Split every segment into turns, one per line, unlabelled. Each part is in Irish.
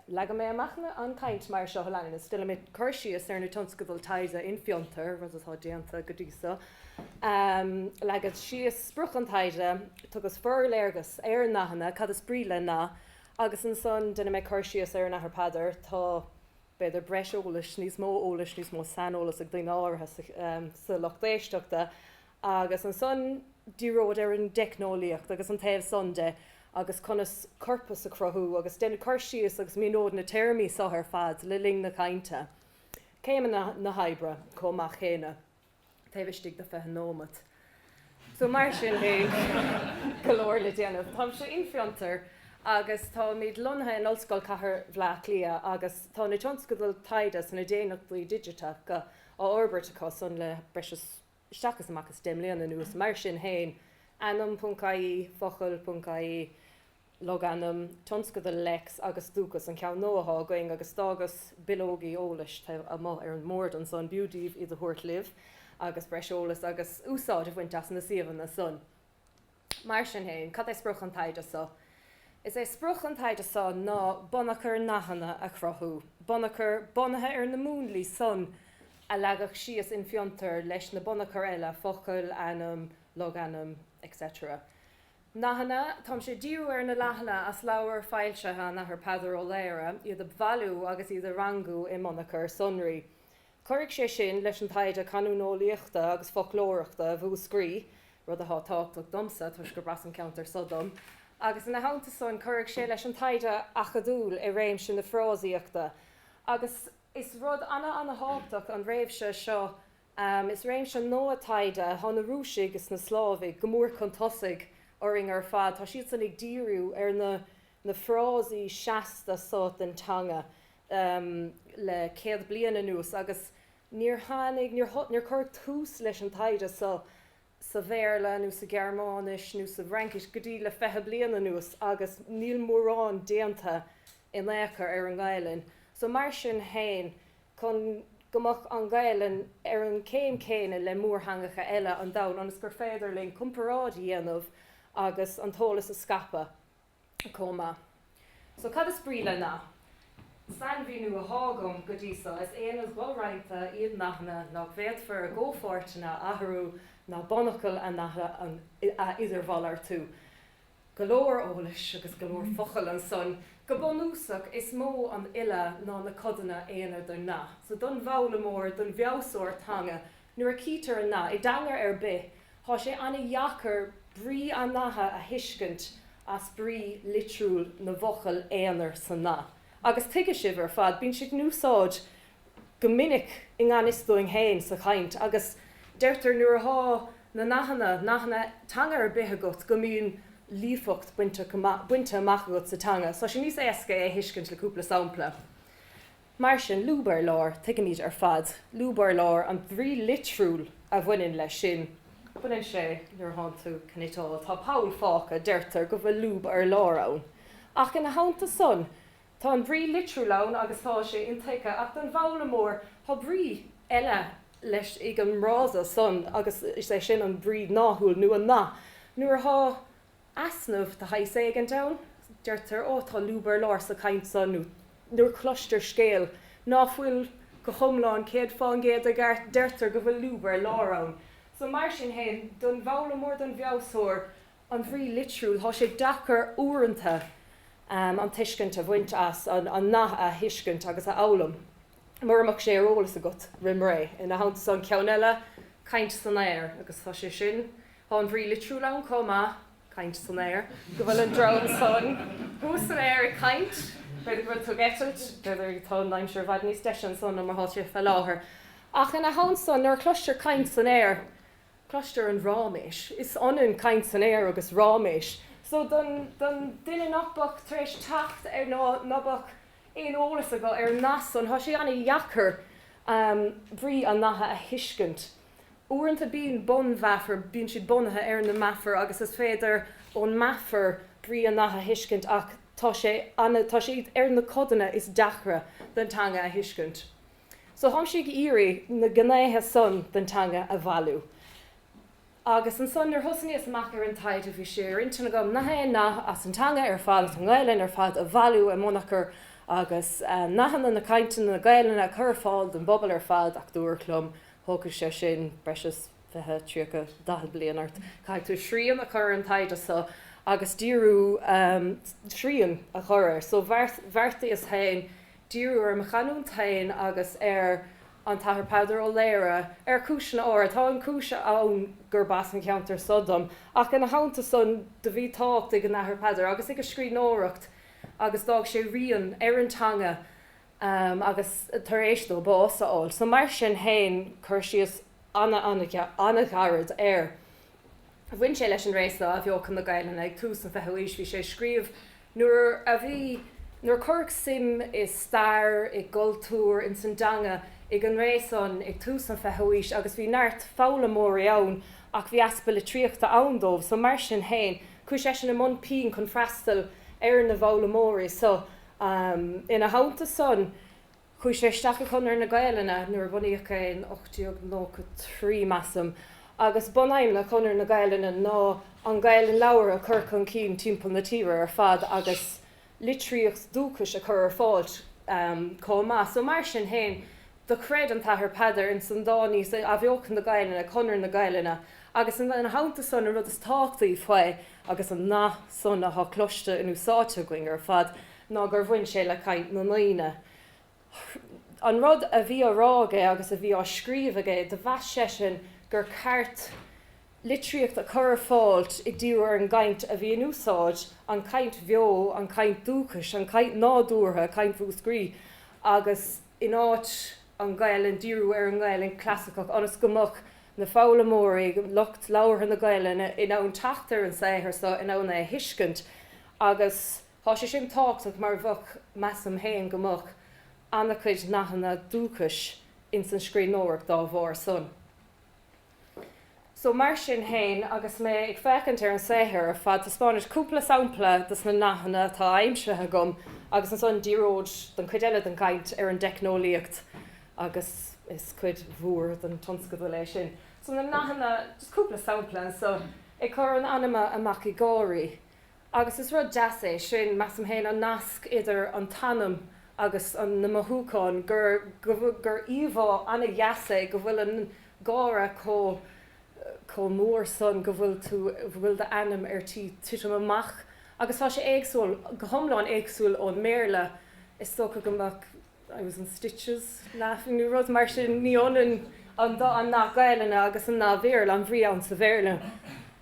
Leagfaidh mé amach an chaint mar seo a leanas, déanfaidh mé cur síos ar na tionscadail taighde in Fiontar, rud atá déanta go dtí seo, leagfad síos sprioc an taighde, tugas forléargas ar nathanna, cad is brí le nath, agus ansan déanfaidh mé cur síos ar an Athair Peadar. Tá, b'fhéidir, breis eolais, níos mó eolais, níos mó saineolas ag daoine áirithe sa lucht éisteachta Agus ansan díreod ar an dteicneolaíocht agus an taobh san de agus conas corpas a chruthú agus déanfad cur síos agus míneod na téarmaí so ar fad le linn na cainte. Céimeanna na hoibre chomh maith céanna taobh istigh de fiche nóimeat. So mar sin beidh go leor le déanamh. Táimse in Fiontar agus táimid lonnaithe in Ollscoil Chathair Bhleá Cliath agus tá na tionscadail taighde sna Daonnachtaí Digiteacha á fhorbairt acu san le breis is isteach is amach is deich mbliana anuas. Mar sin féin, ainm.ie, focal.ie, logainm, tionscadal lex agus dúchas an ceann nua atá againn agus d'fhágas bileogaí eolais taobh amuigh ar an mbord ansan, b'fhiú daoibh iad a thabhairt libh agus breis eolas agus úsáid a bhaint as na suíomhanna san. Mar sin féin, cad é sprioc an taighde seo? Is é sprioc an taighde seo ná bunachar nathanna a chruthú, bunachar bunaithe ar na múnlaí san a leagadh síos in Fiontar leis na bunachair eile, focal, ainm, logainm, etc. Nathanna, táimse ag díriú ar na nathanna as leabhair foilsithe an Athar Peadar Ó Laoghaire, iad a bhailiú agus iad a rangú i mbunachar sonraí. Cuirfidh sé sin leis an taighde canúineolaíochta agus foclóireachta i Múscraí, rud atá tábhachtach domsa toisc gurb as an gceantar so dom, agus ina theannta san cuirfidh sé leis an taighde acadúil i réimse na frásaíochta agus is rud ana-ana-thábhachtach an réimse seo. Is réimse nua taighde. Tá na Rúisigh is na Slávaigh go mór chun tosaigh orainn ar fad. Tá siad san ag díriú ar na. na frásaí seasta so den teanga le céad bliain anuas agus níor tháinig, níor cuireadh tús leis an taighde so sa Bhéarla nó sa Ghearmáinis nó sa bhFraincis go dtí le fiche bliain anuas agus níl mórán déanta in ao' chor ar an nGaelainn so. Mar sin féin, chun go mbeadh an Ghaelainn ar an gcéim chéanna le mórtheangacha eile an domhain ionas gur féidir linn comparáid a dhéanamh agus an t-eolas a scaipeadh, chomh maith. So, cad is brí le nath? Sainmhíniú atá agam go dtí so, is aonaid dho-roinnte iad nathanna nach bhféadfar a gcomhpháirteanna a athrú ná bunfhocail an natha a idirmhalartú. Go leor eolais agus go leor focal ansan. Go bunúsach, is mó an uile ná na codanna aonair den nath. So, don bhfoghlaimeoir, don bhfeabhsóir teanga, Nuair a chítear nath i dteanga ar bith, tá sé ana-dheacair brí an natha a thuiscint as brí litriúil na bhfocal aonair sa nath. Agus tuigfidh sibh ar fad, bíonn sé in úsáid go minic i ngan fhios dúinn féin sa chaint, agus deirtear nuair athá na nathanna, nathanna teanga ar bith agat, go mbíonn líofacht bainte amach agat sa teanga. So tá sé níos éasca é a thuiscint le cúpla sampla. Mar sin, lúb ar lár, tuigimid ar fad, lúb ar lár an bhrí litriúil a bhaineann leis sin. Baineann sé, nuair atánn tú ag cniotáil, tá poll fágtha, deirtear go bhfuil lúb ar lár ann. Ach ina theannta san, tá an bhrí litriúil ann agus tá sé intuigthe, ach don bhfoghlaimeoir, tá brí eile leis ag an bhfrása san agus is é sin an brí 'náthaúil' nó nath Nuair atá easnamh de shaghas éigin ann. Deirtear, 'Ó, tá lúb ar lár sa chaint san, nó nuair a cloistear scéal ná fuil go hiomlán céad fán gcéad i gceart, deirtear go bhfuil lúb ar lár ann. So, mar sin fhéin, don bhfoghlaimeoir, don bhfeabhsóir an bhrí litriúil, tá sé deacair uaireanta an tuiscint a bhaint as, an nath a thuiscint agus a fhoghlaim, mura mbeadh sé ar eolas agat roimré. Ina theannta san, ceann eile, 'caint san aer', agus tá sé sin Tá an bhrí litriúil ann chomh maith, caint san aer, go bhfuil an drón san thuas san aer ag caint. B'fhéidir go bhfuil tú ag eitilt, tá an aimsir i bhfad níos deise ansan ná mar atá sé fé láthair. Ach ina theannta san, nuair a chloistear caint san aer, cloistear an ráiméis. Is ionann caint san aer agus ráiméis. So don duine ná beadh tar éis teacht ar nó ná beadh aon eolas acu ar an nath san, tá sé an-deacair brí an natha a thuiscint. Uaireanta bíonn bun, mar, bíonn siad bunaithe ar na meafair agus is féidir ón meafar brí an nath a thuiscint ach tá sé an, tá siad ar na codanna is deacra den teanga a thuiscint. So tháimse ag iarraidh na gnéithe san den teanga a bhailiú. Agus ansan nuair thosnaíos amach ar an taighde bhí sé ar intinn agam nach aon nath as an teanga ar fad, as an nGaelainn ar fad a bhailiú i mbunachar agus nathanna na cainte na Gaelainne a chur ar fáil don bpobal ar fad ach dúradh liom Thógfadh sé sin breis is fiche, tríocha, daichead bliain ort. Caithfidh tú srian a chur ar an taighde so agus díriú, srian a chur air so. Bheartaíos féin díriú ar mo chanúint féin agus ar an tAthair Peadar Ó Laoghaire ar chúiseanna áirid. Tá an chúis ann gurb as an cheantar so dom ach ina theannta san do bhí tábhacht ag an Athair Peadar agus ag a scríbhneoireacht agus d'fhág sé rian ar an teanga agus tar éis dó bás a fháil. So mar sin féin, cur síos an-ghairid air. Bhain sé leis an ré seo Athbheochan na Gaelainne ag tús an 20ú haois. Bhí sé ag scríobh nuair a bhí, nuair a cuireadh suim i stair, i gcultúr, ins an dteanga ag an ré san ag tús an 20ú haois agus bhí neart foghlaimeoirí ann ach bhí easpa litríochta ann dóibh. So mar sin féin, chuaigh seisean i mbun pinn chun freastal ar na bhfoghlaimeoirí so. Ina theannta san, chuaigh sé isteach i gConradh na Gaelainne nuair a bunaíodh é in 1893, measaim, agus bunaidhmeanna Chonradh na Gaelainne ná an Ghaelainn labhartha a chur chun cinn timpeall na tíre ar fad agus litríocht dúchais a chur ar fáil chomh maith. So mar sin féin, Do chreid an tAthair Peadar ins an dá ní so Athbheochan na Gaelainne, Conradh na Gaelainne, agus ina theannta san an rud is tábhachtaí faoi agus an nath san athá cloiste in úsáid againn ar fad ná gur bhain sé le caint na ndaoine. An rud a bhí á rá aige agus a bhí á scríobh aige do mheas seisean gur ceart litríocht a chur ar fáil ag díriú ar an gcaint a bhí in úsáid, an chaint bheo, an chaint dúchais, an chaint nádúrtha, caint Mhúscraí agus. in áit an Ghaelainn, díriú ar an nGaelainn chlasaiceach, ionas go mbeadh na foghlaimeoirí, lucht labhartha na Gaelainne, in ann teacht ar an saothar so, in ann é a thuiscint. Agus tá sé sin tábhachtach mar bheadh, measaim féin, go mbeadh ana-chuid nathanna dúchais ins an scríbhneoireacht dá bharr san. So mar sin fhéin, agus mé ag féachaint ar an saothar ar fad taispeánfad, cúpla sampla de sna nathanna atá aimsithe agam, agus ansan díreod don chuid eile den gcaint ar an dteicneolaíocht, agus is cuid mhór den tionscadal é sin. So na nathanna, just cúpla sampla anso, ag cur an anama amach ag gáirí, Agus is rud deas é sin, measaim féin, an nasc idir an t-anam agus na mothúcháin, gur íomhá ana-dheas é go bhfuil an gáire chomh mór san go bhfuil d'anam ar tí titim amach. Agus tá sé éagsúil, go hiomlán éagsúil ón mBéarla. Is dócha go mbeadh I was in stitches laughing nó rud mar sin, ní ionann an nath Gaelainne agus an nath Bhéarla, an bhrí ann sa Bhéarla.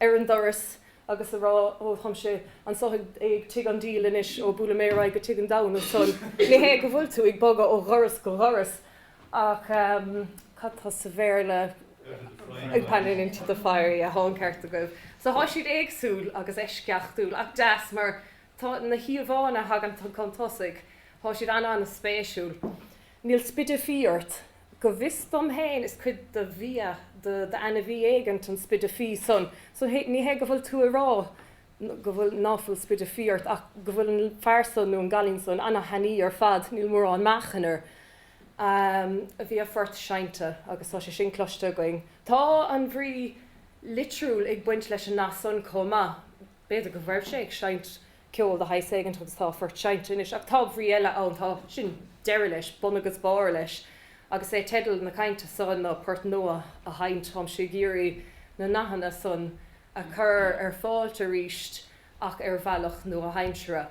ar an doras agus a rá Ó, táimse anso ag tigh an diabhail anois, ó buailfidh mé ar aghaidh go tigh an deamhain ansan. Ní hé go bhfuil tú ag bogadh ó dhoras go doras ach cad tá sa Bhéarla, pan into the fire, yeah, tá an ceart agaibh. So tá siad éagsúil agus eisceachtúil ach deas mar tá na híomhánna a thagann chun tosaigh, tá siad an-an-spéisiúil. Níl spide fí ort. Go bhfios dom féin is cuid de bhia d'ainmhí éigint an spide fí san, so ní hé go bhfuil tú ag rá go bhfuil, ná fuil spide fí ort ach go bhfuil an fear san nó an cailín san an-thanaí ar fad, níl mórán meáchain air. Bhí a phort seinnte agus tá sé sin cloiste againn. Tá an bhrí litriúil ag baint leis an nath san chomh maith. B'fhéidir go raibh sé ag seinnt ceol de shaghas éigint agus tá a phort seinnte anois. Ach tá brí eile ann, tá, sin deireadh leis, bun agus barr leis, agus is é teideal na cainte so ná port nua a sheinnt, táimse ag iarraidh na nathanna san a chur ar fáilt aríst ach ar bhealach nua-aimseartha.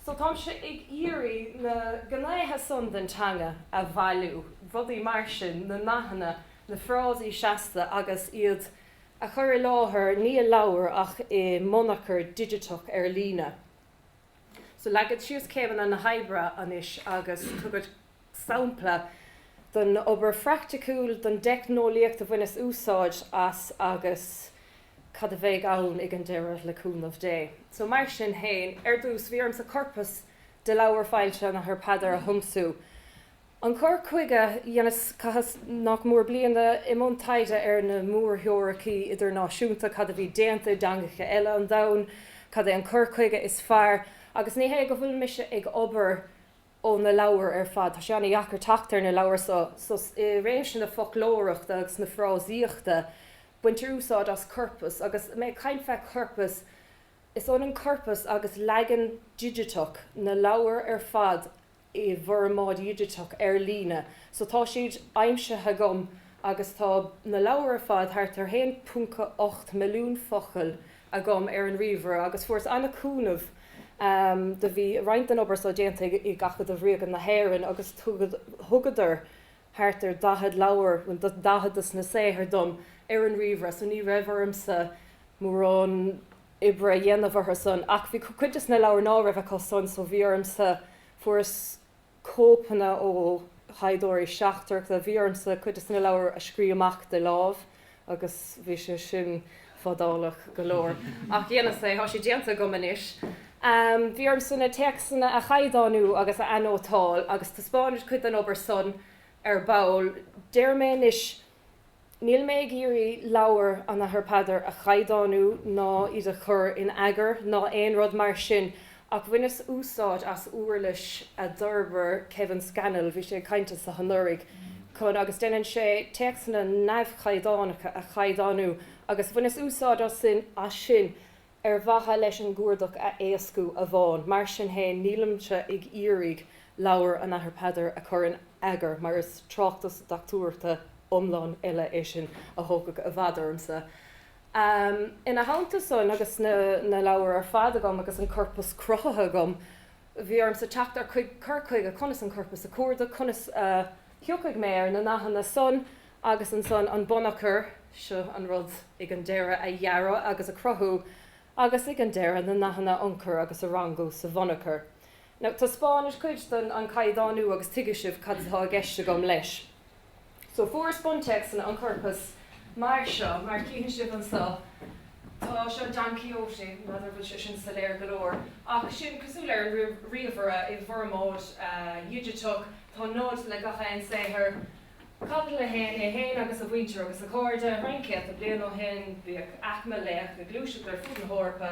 So táimse ag iarraidh na gnéithe san den teanga a bhailiú, rudaí mar sin, na nathanna, na frásaí seasta agus iad, a chur i láthair, ní i leabhar ach i mbunachar digiteach ar líne. So leagfad síos céimeanna na hoibre anois agus tabharfad sampla den obair phraiticiúil, den dteicneolaíocht a bhaineas úsáid as agus cad a bheidh ann ag an deireadh le cúnamh Dé. So mar sin féin, ar dtús bhí ormsa corpas de leabhair foilsithe an Athar Peadar a thiomsú. An cur chuige dhéanas, chaitheas nach mór bliain i mbun taighde ar na mórtheoiricí idirnáisiúnta, cad a bhí déanta i dteangacha eile an domhain, cad é an cur chuige is fearr, agus ní hé go bhfuil mise ag obair ó na leabhair ar fad, tá sé an-deacair teacht ar na leabhair so, i réimse na foclóireachta agus na frásaíochta, baintear úsáid as corpas, agus mé ag caint fé chorpas, is ionann corpas agus leagan digiteach na leabhar ar fad i bhformáid dhigiteach ar líne so tá siad aimsithe agam agus tá na leabhair ar fad, thart ar 1.8 milliún focal, agam ar an ríomhaire agus fuaireas an-chúnamh do bhí roinnt den obair so déanta ag Acadamh Ríoga na hÉireann agus thugadar thart ar 40 leabhar, 40 desna saothair dom ar an ríomhaire so ní raibh ormsa mórán. oibre a dhéanamh orthu-san. Ach bhí cuid desna leabhair ná raibh acu san, so bhí orm-sa, fuaireas cóipeanna ó thaighdeoirí seachtracha, bhí orm-sa cuid desna leabhair a scríobh amach de láimh agus bhí sé sin fadálach go leor. Ach dhéanas é, tá sé déanta agam anois. Bhí orm-sa na téacsanna a chaighdeánú agus a anótáil agus taispeánfad cuid den obair san ar ball. Deirim é anois Níl mé ag iarraidh leabhair an Athar Peadar a chaighdeánú ná iad a chur in eagar ná aon rud mar sin ach bhaineas úsáid as úirlis a d'fhorbair Kevin Scannell, bhí sé ag caint anseo anuraidh, chun agus déanann sé téacsanna neamhchaighdeánacha a chaighdeánú agus bhaineas úsáid as sin ar mhaithe leis an gcuardach a éascú amháin. Mar sin féin, nílimse ag iarraidh leabhar an Athar Peadar a chur in eagar, mar is tráchtas dochtúireachta iomlán eile é sin a thógfadh i bhfad ormsa. Ina theannta san, agus na leabhair ar fad agam agus an corpas cruthaithe agam, bhí ormsa teacht ar chuig cur chuige conas an corpas a chuardach, conas a thiocfadh mé ar na nathanna san, agus ansan an bunachar, seo an rud, ag an deireadh, a dhearadh agus a chruthú, agus ag an deireadh, na nathanna a ionchur agus a rangú sa bhunachar. Now, taispeánfad cuid den, an caighdeánú, agus tuigfidh sibh cad atá i gceist agam leis. So, fuaireas buntéacsanna an chorpais mar seo, mar a chífidh sibh anso, tá seo Don Quixote, n'fheadar an bhfuil sé sin soiléir go leor, ach sin cosúil ar an ríomhaire, i bhformáid dhigiteach, tá 0 le gach aon saothar, Caibidil a haon agus a mhuintir agus a chairde, roinnt céadta bliain ó shin, bhíodh aicme laoch ag gluaiseacht ar fud na hEorpa,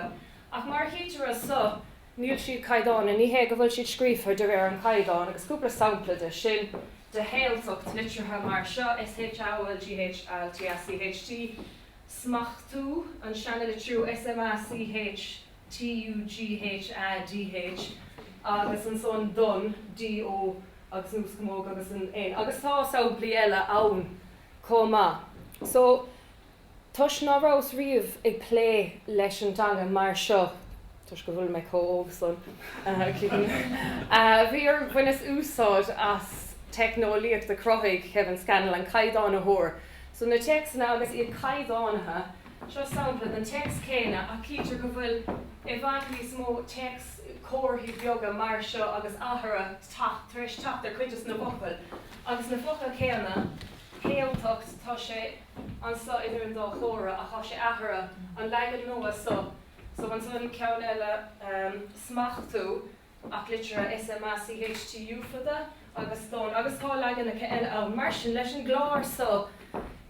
ach mar a chítear anso, níl siad caighdeánach, ní hé go bhfuil siad scríofa de réir an chaighdeáin, agus cúpla sampla de sin, de shaoltacht liteartha mar seo, SH AOGH ALTACH T, smachtú an seanalitriú sma CH, TU GH A DH agus ansan don DO agus an uaschamóg agus an N agus tá samplaí eile ann chomh maith. So, toisc ná rabhas riamh ag plé leis an dteanga mar seo, toisc go bhfuil mé chomh hóg san, cuimhin bhí orm, bhaineas úsáid as teicneolaíocht a chruthaigh Kevin Scannell, an caighdeánaitheoir. So na téacsanna agus iad caighdeánaithe, seo sampla den téacs céanna ach cítear go bhfuil i bhfad níos mó téacs, comharthaí beaga mar seo agus athrú tagtha, tar éis teacht ar chuid de na focail. Agus na focail chéanna, shaoltacht, tá sé anso idir an dá chomhartha ach tá sé athraithe, an leagan nua so, So ansan ceann eile, smachtú ach litrithe S-m-a-c-h-t-u fada agus don agus tá leaganacha eile ann. Mar sin, leis an gclár so,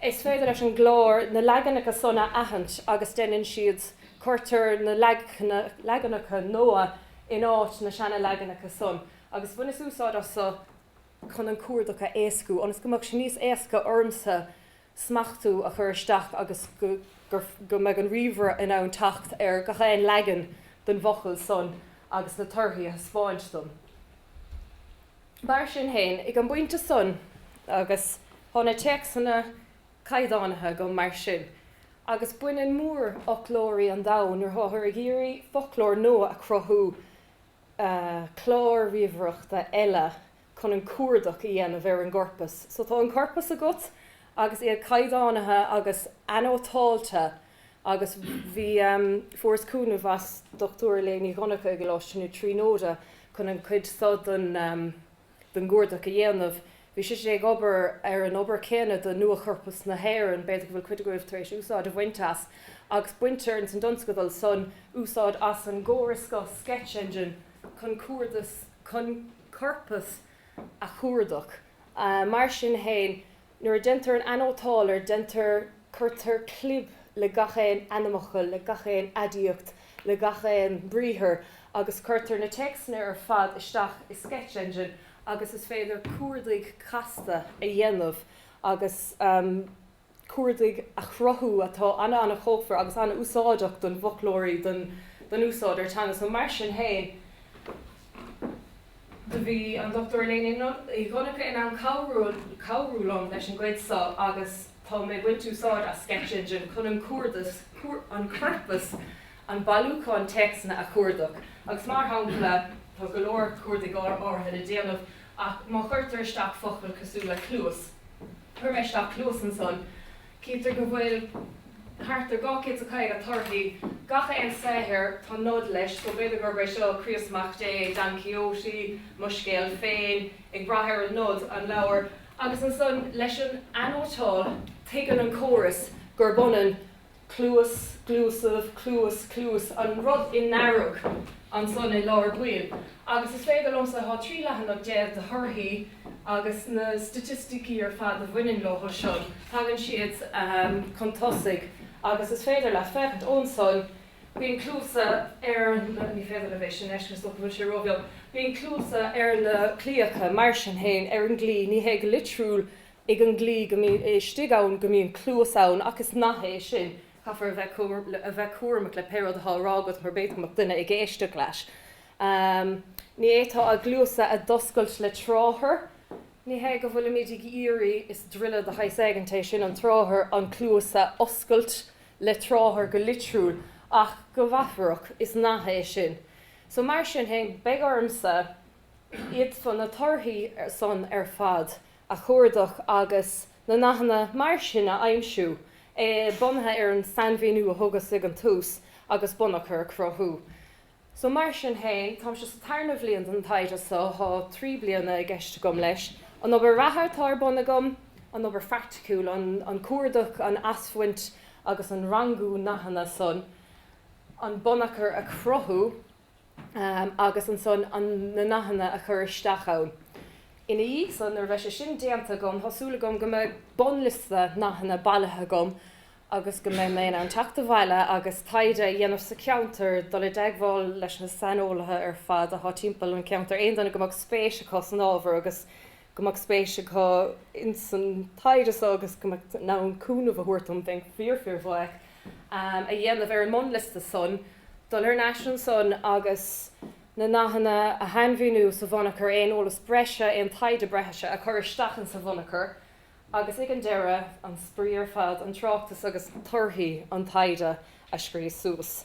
is féidir leis an gclár na leaganacha san a aithint agus deineann siad, cuirtear na leaganacha nua in áit na seana-leaganacha san agus bhaineas úsáid as so chun an cuardach a éascú ionas go mbeadh sé níos éasca ormsa smachtú a chur isteach agus go mbeadh an ríomhaire in ann teacht ar gach aon leagan den bhfocal san agus na torthaí a thaispeáint dom. Mar sin féin, ag an bpointe san, agus tá na téacsanna caighdeánaithe agam, mar sin, agus baineann mórfhoclóirí an domhain nuair táthar ag iarraidh foclóir nua a chruthú, cláir ríomhaireachta eile chun an cuardach a dhéanamh ar an gcorpas. So tá an corpas agat agus iad caighdeánaithe agus anótáilte agus bhí, em, fuaireas cúnamh ón Dr. Elaine Uí Dhonnchadha i gColáiste na Tríonóide chun an chuid seo den, em, den gcuardach a dhéanamh. Bhí sise ag obair ar an obair chéanna do Nua-Chorpas na hÉireann, b'fhéidir go bhfuil cuid agaibh tar éis úsáid a bhaint as, agus baintear ins an dtionscadal san úsáid as an gcóras seo, Sketch Engine, chun cuardas. chun corpas a chuardach. Mar sin féin, nuair a deintear an anótáil air deintear cuirtear clib le gach aon ainmfhocal, le gach aon aidiacht, le gach aon briathar agus cuirtear na téacsanna ar fad isteach i Sketch Engine agus is féidir cuardaigh casta a dhéanamh agus. cuardaigh a chruthú atá an-ana-chomhachtach agus an-úsáideach don bhfoclóirí, don don úsáideoir teanga so mar sin féin do bhí an Dochtúir Elaine Uí Dhonnchadha in ann cabhrú cabhrú liom leis an gcuid so agus tá mé ag baint úsáid as Sketch Engine chun an cuardas an corpas an bailiúchán téacsanna a chuardach agus mar shampla tá go leor cuardaigh áirithe le déanamh Ach má chuirtear isteach focal cosúil le cluas, chuir mé isteach cluas ansan, chítear go bhfuil thart ar 250 de thorthaí. Gach aon saothar tá nod leis, so b'fhéidir gurb é seo Críost Mac Dé, Don Quixote, Mo Scéal Féin, ag brath ar an nod, an leabhar. Agus ansan, leis an anótáil, tuigeann an córas gurb ionann cluas, cluasaibh, cluas, cluas, an rud i ndearg ansan i lár baill. Agus is féidir liomsa, tá trí leathanach déag de thorthaí agus na staitisticí ar fad a bhaineann leo seo, tagann siad chun tosaigh agus is féidir leat féachaint ansan, bíonn cluasa ar na, ní féidir libh é sin fheiscint, is dócha go bhfuil sé róbheag, bíonn cluasa ar na claíocha, mar sin féin, ar an gclaí, ní hé go litriúil ag an gclaí go mbíonn sé istigh ann, go mbíonn cluas ann, ach is nath é sin, caithfear a bheith cúramach le pé rud atá á rá agat mar b'fhéidir go mbeadh duine ag éisteacht leat. Ní fhéadfá a gcluasa a d'oscailt le tráthar. Ní hé go bhfuilimid ag iarraidh, is druilire de shaghas éigin é sin, an tráthar, an cluas a oscailt le tráthar go litriúil, ach go meafarach, is nath é sin. So mar sin fhéin, beidh ormsa, iad, na torthaí san ar fad a chuardach agus na nathanna mar sin a aimsiú, é bunaithe ar an sainmhíniú a thugas ag an tús, agus bunachar a chruthú. So mar sin féin, táimse sa tarna bhliain den taighde so, tá trí bliana i gceist agam leis. An obair reatha atá ar bun agam, an obair phraiticiúil, an cuardach, an asbhaint agus an rangú na nathanna san, an bunachar a chruthú, agus ansan na nathanna a chur isteach ann. Ina dhiaidh san, nuair a bheidh sé sin déanta agam, tá súil agam go mbeidh bunliosta nathanna bailithe agam agus go mbeidh mé in ann teacht abhaile agus taighde a dhéanamh sa cheantar, dul i dteagmháil leis na saineolaithe ar fad athá timpeall an cheantair, aon duine go mbeadh spéis acu san ábhar agus. go mbeadh spéis acu ins an taighde so agus go mbeadh in ann cúnamh a thabhairt dom, bheinn fíor-fíor-bhuíoch. Eagar a dhéanamh ar an mbunliosta san, dul ar n-ais ansan agus na nathanna a shainmhíniú sa bhunachar, aon eolas breise, aon taighde breise a chur isteach insa bhunachar agus ag an deireadh, an spraoi ar fad, an tráchtas agus torthaí an taighde a scríos suas.